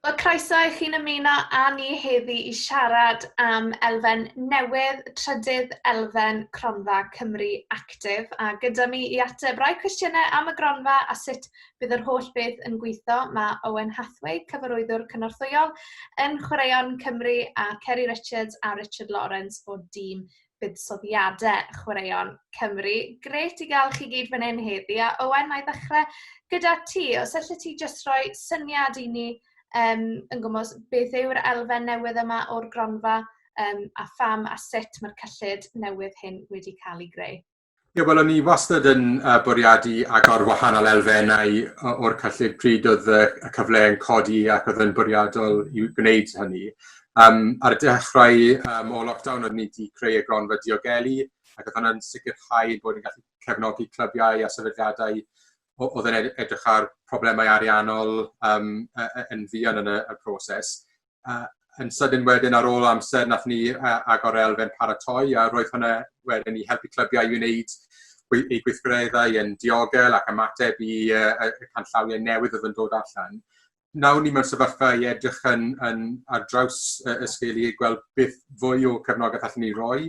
Wel, croeso i chi'n ymuno â ni heddi i siarad am elfen newydd, trydydd elfen Cronfa Cymru Actif, a gyda mi i ateb rai cwestiynau am y gronfa a sut bydd yr holl beth yn gweithio, mae Owen Hathaway, cyfarwyddwr cynorthwyol yn Chwaraeon Cymru, a Ceri Richards a Richard Lawrence o dîm buddsoddiadau chwaraeon Cymru. Gret i gael chi gyd fan hyn heddi. A Owen, na i ddechrau gyda ti. Os allet ti jyst rhoi syniad i ni um, yn gwmwys beth yw'r elfen newydd yma o'r gronfa um, a pham a sut mae'r cyllid newydd hyn wedi cael ei greu. Ie, wel o'n i wastad yn uh, bwriadu agor wahanol elfennau o'r cyllid pryd oedd y, y cyfle yn codi ac oedd yn bwriadol i gwneud hynny. Um, ar y dechrau um, o lockdown oedd ni wedi creu y gronfa diogelu ac oedd hwnna'n sicrhau bod ni'n gallu cefnogi clybiau a sefydliadau oedd yn edrych ar problemau ariannol um, yn fuan yn y, y proses. uh, yn sydyn wedyn ar ôl amser nath ni uh, agor elfen paratoi a roedd hwnna wedyn i helpu clybiau i wneud ei gweithgareddau yn diogel ac ymateb i uh, y canllawiau newydd oedd yn dod allan. Nawr ni mewn sefyllfa i edrych yn, yn ar draws uh, y sgil i gweld beth fwy o cefnogaeth allan ni roi.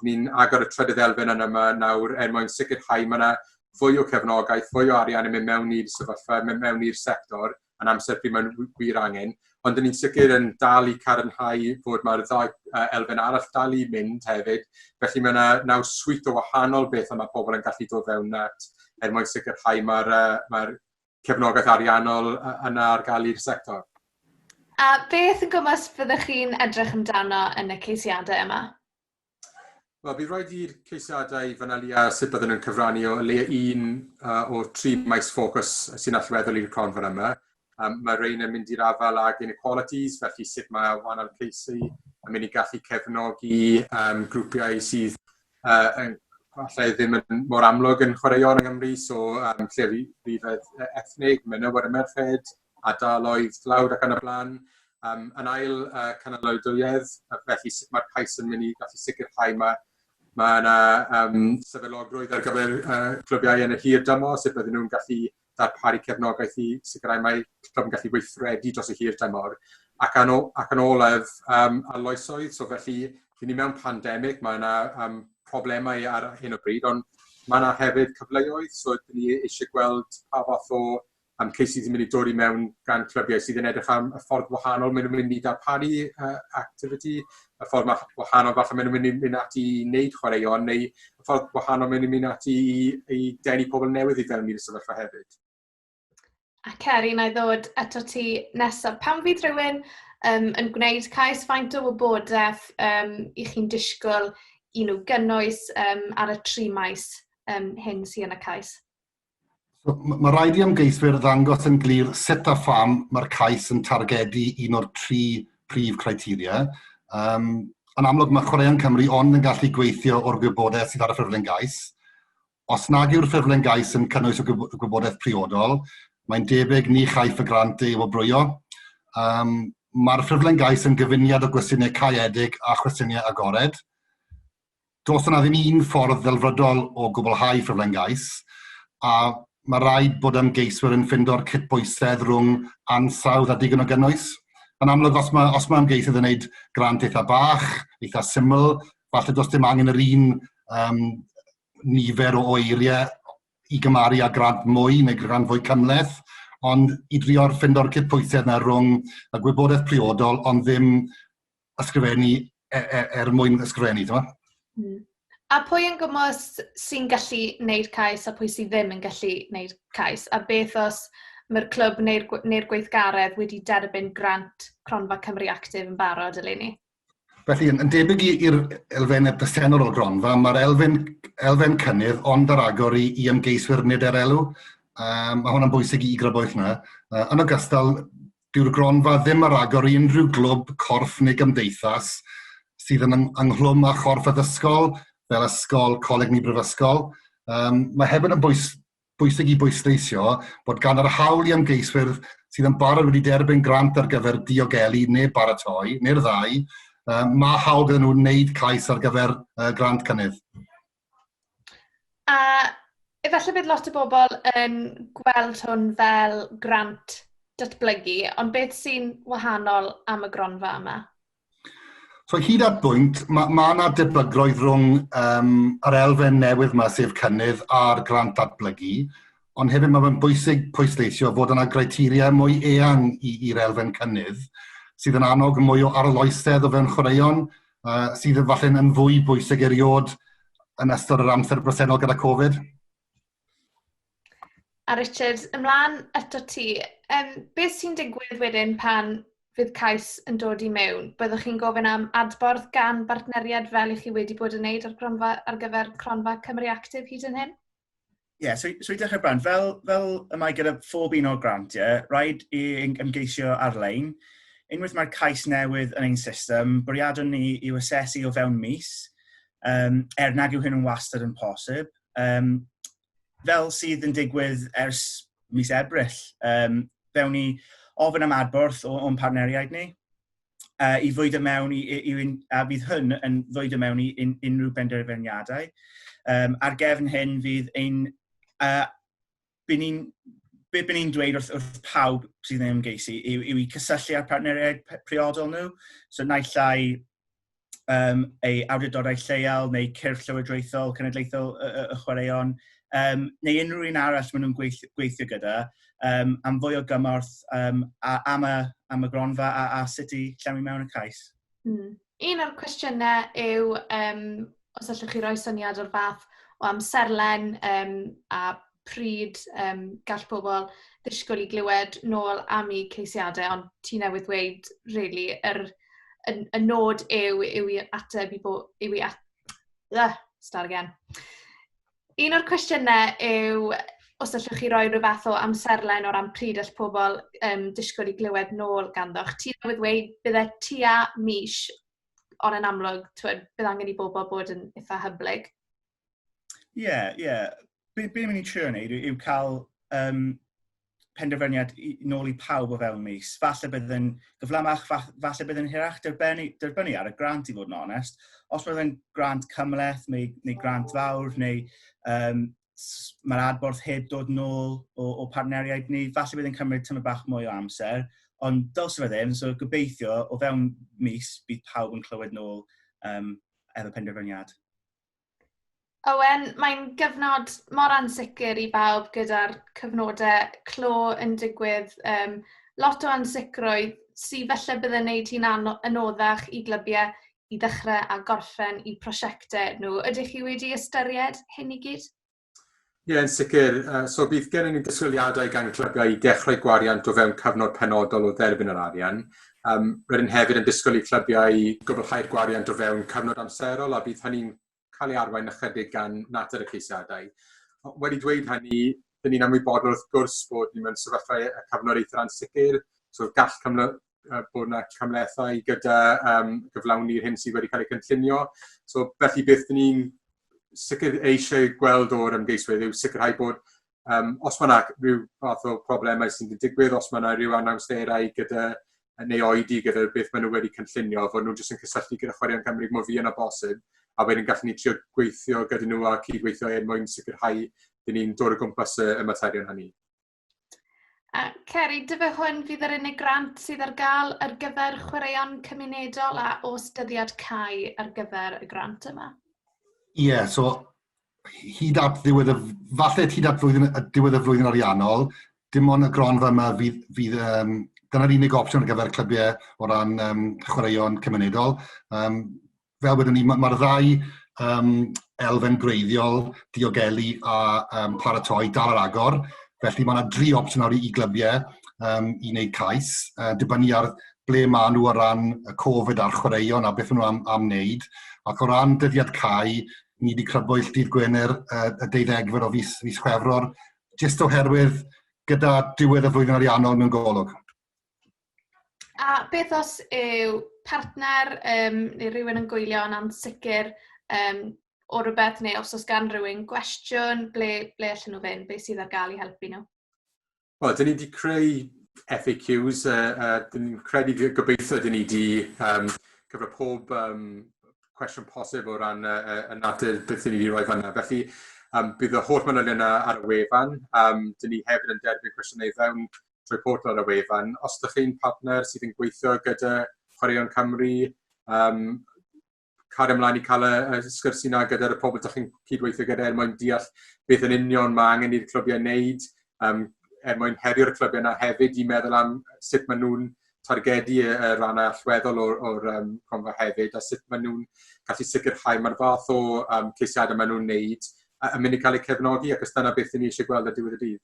Ni'n agor y trydydd elfen yn yma nawr er mwyn sicrhau mae yna fwy o cefnogaeth, fwy o arian yn mynd mewn i'r sefyllfa, mynd mewn i'r sector, yn amser pryd mae'n wir angen, ond dyn ni'n sicr yn dal i carinhau fod mae'r ddau uh, elfen arall dal i mynd hefyd, felly mae yna naw swit o wahanol beth yma pobl yn gallu dod fewn at er mwyn sicrhau mae'r uh, mae cefnogaeth ariannol yna ar gael i'r sector. A beth yn gwmwys fyddwch chi'n edrych amdano yn y ceisiadau yma? Wel, bydd rhaid i'r ceisiadau fanyliau a sut byddwn yn cyfrannu o leia un uh, o tri maes ffocws sy'n allweddol i'r cronfa yma. Um, mae rhain yn mynd i'r afael ag inequalities, felly sut mae wahanol ceisau yn mynd i gallu cefnogi um, grwpiau sydd uh, yn, allai ddim yn mor amlwg yn chwaraeon yng Nghymru, so um, lle rhyfedd ethnig, menywod y merched, ardaloedd dlawd ac yn y blaen. Um, yn ail uh, cynaliadwyedd, felly sut mae'r cais yn mynd i gallu sicrhau mae Mae yna um, sefydlogrwydd ar gyfer uh, clybiau yn y hir dymor, sut bydden nhw'n gallu darparu cefnogaeth i sicrhau mae clwb yn gallu weithredu dros y hir dymor. Ac yn, ac yn olaf, um, arloesoedd, so felly, rydyn ni mewn pandemig, mae yna um, problemau ar hyn o bryd, ond mae yna hefyd cyfleoedd, so rydyn ni eisiau gweld pa fath o Am Casey sy'n mynd i dod i mewn gan clybiau sydd yn edrych am y ffordd wahanol maen nhw'n mynd i darparu uh, activity, y ffordd wahanol falle maen nhw'n mynd i mynd ati i wneud chwaraeon, neu y ffordd wahanol maen nhw'n mynd ati i, i denu pobl newydd i fewn i'r sefyllfa hefyd. A Ceri, na i ddod eto ti nesaf. Pan fydd rhywun um, yn gwneud cais faint o wybodaeth um, i chi'n disgwyl i nhw gynnwys um, ar y tri maes um, hyn sy'n y cais? So, mae rhaid i ymgeiswyr ddangos yn glir sut a pham mae'r cais yn targedu un o'r tri prif criteria. Um, yn amlwg mae Chwaraeon Cymru ond yn gallu gweithio o'r gwybodaeth sydd ar y ffurflen gais. Os nag yw'r ffurflen gais yn cynnwys y gwybodaeth priodol, mae'n debyg ni chaiff y grant ei wobrwyo. Um, Mae'r ffurflen gais yn gyfuniad o gwestiynau caeedig a chwestiynau agored. Does yna ddim un ffordd ddelfrydol o gwblhau ffurflen gais, a mae rhaid bod ymgeiswyr yn ffindo'r cydbwysedd rhwng ansawdd a digon o gynnwys. Yn amlwg, os mae, os mae ymgeisydd yn gwneud grant eitha bach, eitha syml, falle does dim angen yr un um, nifer o eiriau i gymaru â grant mwy neu grant fwy cymleth, ond i drio'r ffindo'r cydpwysedd yna rhwng y gwybodaeth priodol ond ddim ysgrifennu e, e, er mwyn ysgrifennu, ti'n mm. A pwy yn gwmwys sy'n gallu wneud cais a pwy sy'n ddim yn gallu wneud cais? A beth os mae'r clwb neu'r neu gweithgaredd wedi derbyn grant Cronfa Cymru Actif yn barod eleni? Felly, yn, yn debyg i'r elfen y presennol o gronfa, mae'r elfen, elfen cynnydd ond ar agor i, i ymgeiswyr nid er elw. Um, mae hwnna'n bwysig i grybwyll yna. Uh, yn ogystal, Dyw'r gronfa ddim ar agor i unrhyw glwb, corff neu gymdeithas sydd yn ynghlwm â chorff addysgol, fel ysgol, coleg neu brifysgol. Um, mae hefyd yn bwys, bwysig i bwysleisio bod gan yr hawl i ymgeiswyr sydd yn barod wedi derbyn grant ar gyfer diogelu neu baratoi, neu'r ddau, mae hawl gyda nhw wneud cais ar gyfer uh, grant cynnydd. A efallai bydd lot o bobl yn gweld hwn fel grant datblygu, ond beth sy'n wahanol am y gronfa yma? So hyd at bwynt, mae ma yna debygloedd rhwng um, yr elfen newydd yma, sef cynnydd a'r grant datblygu, ond hefyd mae'n bwysig pwysleisio fod yna greiteria mwy eang i'r elfen cynnydd, sydd yn annog mwy o arloesedd o fewn chwaraeon, uh, sydd yn falle'n yn fwy bwysig eriod yn ystod yr amser bresennol gyda Covid. A Richard, ymlaen eto ti, um, beth sy'n digwydd wedyn pan fydd cais yn dod i mewn? Byddwch chi'n gofyn am adborth gan bartneriad fel i chi wedi bod yn wneud ar, gronfa, ar gyfer cronfa Cymru Actif hyd yn hyn? Ie, yeah, so, so i dechrau brand, fel, fel y mae gyda phob un o'r grantiau, yeah, rhaid i ymgeisio ar-lein. Unwaith mae'r cais newydd yn ein system, bwriadwn ni i asesu o fewn mis, um, er nag yw hyn yn wastad yn posib. Um, fel sydd yn digwydd ers mis Ebrill, um, fewn ni ofyn am adborth o'n partneriaid ni. uh, i ddweud y mewn i, i, i, a bydd hyn yn ddweud y mewn i un, unrhyw benderfyniadau. Um, ar gefn hyn fydd ein... Uh, byn ni'n be byn ni'n dweud wrth, wrth pawb sydd yn ymgeisu yw, yw i cysylltu â'r partneriaid priodol nhw. So naill ai um, ei awdurdodau lleol neu cyrff llywodraethol cenedlaethol y, y, y chwaraeon, um, neu unrhyw un arall maen nhw'n gweithio, gweithio gyda, um, am fwy o gymorth um, a, am, y, am y gronfa a, a sut i llenwi mewn y cais. Mm. Un o'r cwestiynau yw, um, os allwch chi roi syniad o'r fath o amserlen um, a pryd yym gall pobl ddisgwyl i glywed nôl am eu ceisiadau, ond ti newydd ddweud rili yr y y nod yw yw i ateb i bo- yw i at- Ych! start again. Un o'r cwestiynau yw os allwch chi roi ryw fath o amserlen o ran pryd all pobl yym disgwyl i glywed nôl ganddoch. Ti newydd ddweud byddai tua mis, ond yn amlwg timod bydd angen i bobl bod yn eitha' hyblyg. Ie, ie. Be, be ni'n trio wneud yw, yw cael um, penderfyniad i, nôl i pawb o fewn mis. Falle bydd yn gyflamach, falle bydd yn hirach derbynnu, derbynnu ar y grant i fod yn onest. Os bydd yn grant cymleth neu, neu grant fawr neu um, mae'r adborth heb dod yn ôl o, o partneriaid ni. Falle bydd yn cymryd tymor bach mwy o amser, ond dylse fe ddim. So gobeithio, o fewn mis, bydd pawb yn clywed nôl um, efo penderfyniad. Owen, mae'n gyfnod mor ansicr i bawb gyda'r cyfnodau clo yn digwydd. Um, lot o ansicrwydd sydd felly bydd yn gwneud hi'n anoddach i glybiau i ddechrau a gorffen i prosiectau nhw. Ydych chi wedi ystyried hyn i gyd? Ie, yn sicr. Uh, so bydd gen i ni disgwyliadau gan clygau i ddechrau gwariant o fewn cyfnod penodol o dderbyn yr arian. Um, rydyn hefyd yn disgwyl i clybiau gwblhau'r gwariant o fewn cyfnod amserol a bydd hynny'n cael ei arwain ychydig gan natur y ceisiadau. Wedi dweud hynny, dyn ni'n ymwybodol wrth gwrs bod ni mewn sefyllfa y cyfnod eithr ansicr, so gall cyfnod, bod yna camlethau gyda um, gyflawni'r hyn sydd wedi cael ei cynllunio. So, felly beth dyn ni'n sicr eisiau gweld o'r ymgeiswyr yw sicrhau bod um, os mae yna rhyw fath o problemau sy'n digwydd, os mae yna rhyw anawsterau gyda neu oedi gyda beth maen nhw wedi cynllunio, fod nhw'n jyst yn cysylltu gyda chwaraeon Cymru mwy fi yna bosib, a wedyn gallen ni trio gweithio gyda nhw a cydweithio er mwyn sicrhau dyn ni'n dod o gwmpas y materion hynny. A Ceri, dy fe hwn fydd yr unig grant sydd ar gael ar gyfer chwaraeon cymunedol a os dyddiad cae ar gyfer y grant yma? Ie, yeah, so hyd at ddiwedd y, falle hyd at flwyddyn, y diwedd y flwyddyn ariannol, dim ond y gronfa yma fydd, fydd um, dyna'r unig opsiwn ar gyfer clybiau o ran um, chwaraeon cymunedol. Um, fel wedwn ni, mae'r ma ddau um, elfen greiddiol, diogelu a um, paratoi dal ar agor. Felly mae yna dri opsiwn nawr i glybiau um, i wneud cais, uh, dibynnu ar ble maen nhw o ran y Covid a'r chwaraeon a beth nhw am, am wneud. Ac o ran dyddiad cael, ni wedi crybwyll dydd Gwener uh, y deuddegfed o fus, fus Chwefror, jyst oherwydd gyda diwedd y flwyddyn ariannol mewn golwg. A beth os yw partner um, neu rhywun yn gwylio yn ansicr um, o rhywbeth, neu os oes gan rhywun gwestiwn, ble, ble allan nhw fynd, beth sydd ar gael i helpu nhw? Wel, dyn ni wedi creu FAQs, a, a dyn ni'n credu gobeithio dyn ni wedi um, cyfro pob um, cwestiwn posib o ran uh, uh, y natur beth dyn ni wedi rhoi fanna. Felly, um, bydd y holl manylion yna ar y wefan. Um, dyn ni hefyd yn derbyn cwestiynau fewn report ar y wefan. Os ydych chi'n partner sydd yn gweithio gyda Chwaraeon Cymru, um, cario ymlaen i cael y, y sgwrs yna gyda'r y pobl ydych chi'n cydweithio gyda er mwyn deall beth yn union mae angen i'r clybiau wneud, um, er mwyn herio'r clybiau yna hefyd i meddwl am sut maen nhw'n targedu y, y rannau allweddol o'r, or, um, cronfa hefyd a sut maen nhw'n gallu sicrhau mae'r fath o um, ceisiadau maen nhw'n wneud yn mynd i cael eu cefnogi ac os dyna beth ni eisiau gweld y diwedd y dydd.